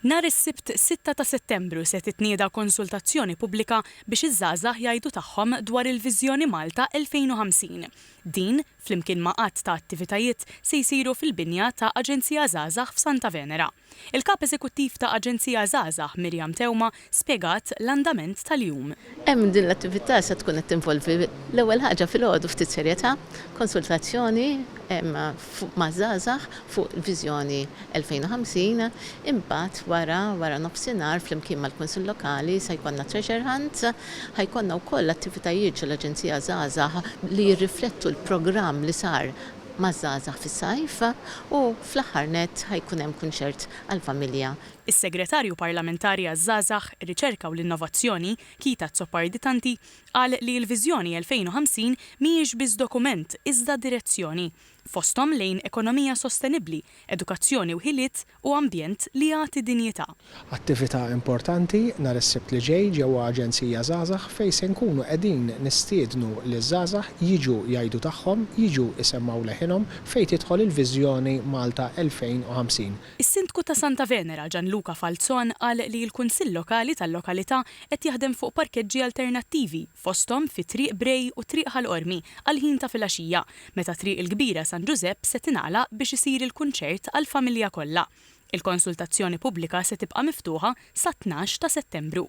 Nhar is-Sibt 6 ta' Settembru se titnieda konsultazzjoni pubblika biex iż-żgħażagħ jgħidu tagħhom dwar il-Viżjoni Malta 2050. Din, flimkien ma' għadd ta' attivitajiet, se jsiru fil-binja ta' Aġenzija Żgħażagħ f'Santa Venera. Il-Kap Eżekuttiv ta' Aġenzija Żgħażagħ, Miriam Teuma, spjegat l-andament tal-jum. Hemm din l-attività se tkun qed tinvolvi l-ewwel ħaġa filgħodu ftit serjetà, konsultazzjoni maż-żgħażagħ fuq il-viżjoni 2050, imbagħad wara waranofsinhar flimkien mal-Kunsill Lokali se jkollna treasure hunt, ħa jkollna wkoll attivitajiet ġol-Aġenzija Żgħażagħ li jirriflettu l-programm li sar maż-żgħażagħ fis-sajf u fl-aħħar nett ħa jkun hemm kunċert għall-familja. Is-Segretarju Parlamentari għaż-Żgħażagħ, ir-Riċerka u l-Innovazzjoni, Kita Azzopardi-Tanti, qal li l-Viżjoni 2050 mhijiex biss dokument iżda direzzjoni, fosthom lejn ekonomija sostenibbli, edukazzjoni u ħiliet u ambjent li jagħti dinjità. Attività importanti nhar is-Sibt li ġej ġewwa Aġenzija Żgħażagħ fejn se nkunu qegħdin nistiednu liż-żgħażagħ jiġu jgħidu tagħhom, jiġu jsemmgħu leħinhom fejn tidħol il-Viżjoni Malta 2050. Is-Sindku ta' Santa Venera, Gianluca Falzon qal li l-Kunsill Lokali tal-lokalità qed jaħdem fuq parkeġġi alternattivi fosthom fi Triq Brej u Triq Ħal Qormi għall-ħin ta' filgħaxija meta Triq il-Kbira San Ġużepp se tingħalaq biex isir il-kunċert għall-familja kollha. Il-konsultazzjoni pubblika se tibqa' miftuħa sat-tnax ta' Settembru.